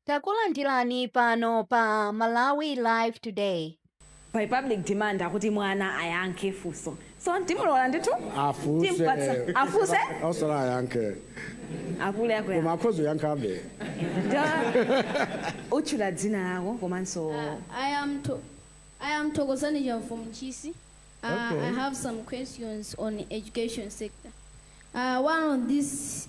Takulandirani pano pa Malawi Live Today. by public demand akuti mwana ayankhe funso so timulola ndithu Afunse. Timpatsa. afunse Osala ayankhe. apule Koma akuya akhoza uyankhabe. utchula dzina lako komanso I am to I am Thokozani Jam from Chisi. Uh, Okay. I have some questions on education sector. Uh, one of these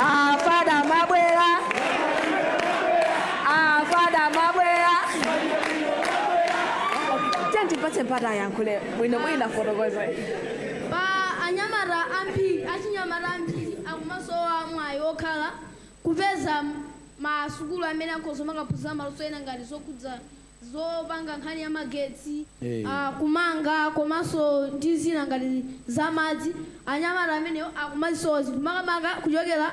afada mabwera afada mabwera tandipatse mpata ayankhule bwino bwino fotokoza pa anyamata ambiri achinyamata ambiri akumasowa mwayi wokhala kupeza masukulu amene akhoza makaphunzira maluso ena ngati zokhudza zopanga nkhani ya magetsi, a kumanga komanso ndi zina ngati za madzi, anyamata amenewo akumazisowa zinthu makamaka kuchokera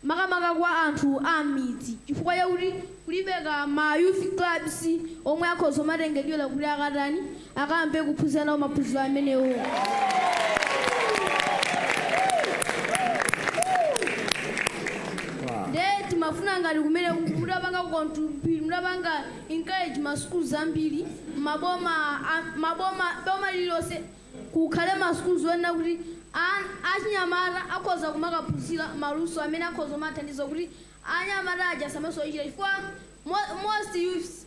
makamaka kwa anthu a m'midzi chifukwa chakuti kulibeko ma youth clubs omwe akhoza kumatengedwera kuti akatani, akayambe kuphunzira nawo maphunziro amenewo. Ndiye timafuna ngati kumene mudapanga contribute, mudapanga encourage ma schools ambiri, maboma, a- maboma, boma lililonse kukhale ma schools oyenera kuti an- achinyamata akhoza kumakaphunzira maluso amene akhoza kumathandiza kuti anyamata aja samasowa ntchito chifukwa mo- most youths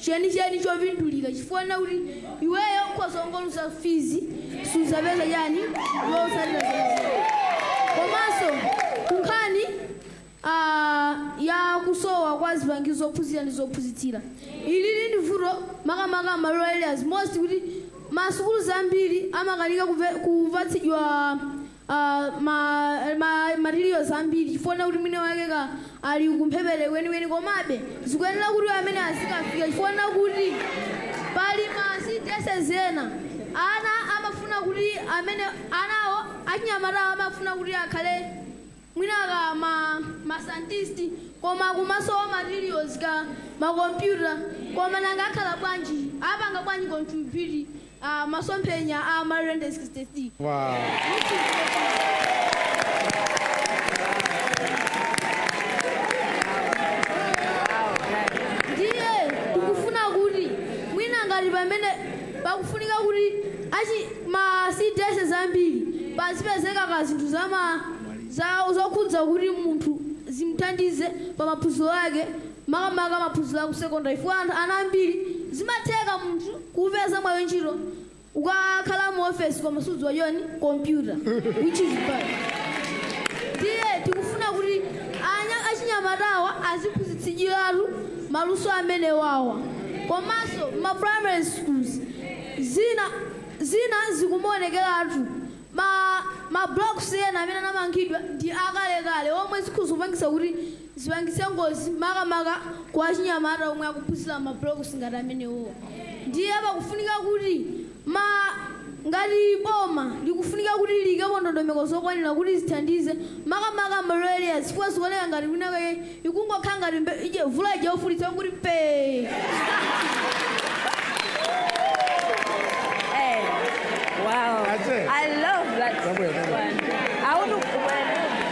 chenicheni chopindulira chifukwa chonena kuti iweyo ukhoza kungoluza fees sudzapeza chani zotsatira zenizeni komanso kunkhani ah, ya kusowa kwa zipangizo zophunzira ndi zophunzitsira ilili ndi vuto makamaka ma rural areas most kuti masukulu ambiri amakanika kuve- kupatsidwa ah, ma, ma materials ambiri chifukwa chonena kuti mwina wake ka ali kumphepete kwenikweni komabe zikuyenera kuti amene azikafika chifukwa chonena kuti pali ma cdss ena ana amafuna kuti amene anawo achinyamatawo amafuna kuti akhale mwina ka ma, ma scientist koma kumasowa materials ka makompyuta koma nanga akhala bwanji apanga bwanji contribute a Masomphenya a Malawi 2063. Ndiye tikufuna kuti mwina ngati pamene pakufunika kuti achi ma CDSs ambiri pazipezeka ka zinthu za ma za zokhudza kuti munthu zimthandize pa maphunziro ake makamaka maphunziro aku secondary chifukwa anthu ana ambiri zimatheka munthu kupeza mwayi wantchito ukakhala mu office koma sudziwa chiyani computer which is bad ndiye tikufuna kuti anya achinyamatawa aziphunzitsidwiratu maluso amene wawa komanso ma primary schools zina zina zikumaonekeratu ma ma blocks ena amene anamangidwa ndi akalekale omwe zikhoza kupangisa kuti zipangitse ngozi makamaka kwa achinyamata omwe akuphunzira ma blocks ngati amenewowa. Ndiye pakufunika kuti ma ngati boma likufunika kuti liyikepo ndondomeko zokwanira kuti zithandize makamaka ma rural areas chifukwa zikuoneka ngati kwina kake ikungokhala ngati mvula ija yofulitsa yongoti pee. Hey, wow. That's it. I love that Somewhere, somewhere. one. I want to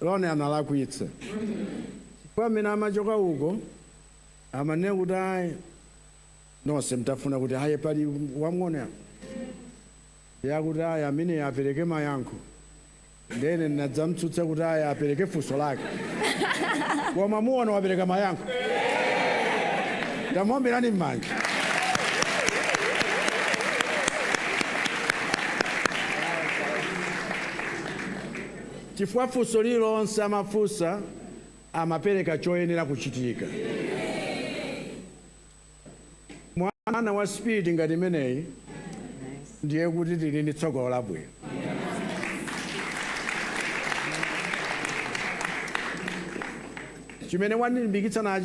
Ronnie analakwitsa chifukwa mmene amachoka uko amanena kuti ayi nonse mtafuna kuti aye pali wamng'ono apa ndiye akuti ayi ameneyo apereke mayankho ndiye ine ndinadzamtsutsa kuti ayi apereke funso lake koma muona wapereka mayankho tamuombirani m'manja Chifukwa funso lililonse amafunsa amapereka choyenera kuchitika. Mwana wa spirit ngati imeneyi ndiye kuti tili ndi tsogolo labwino. Chimene wandilimbikitsa nacho.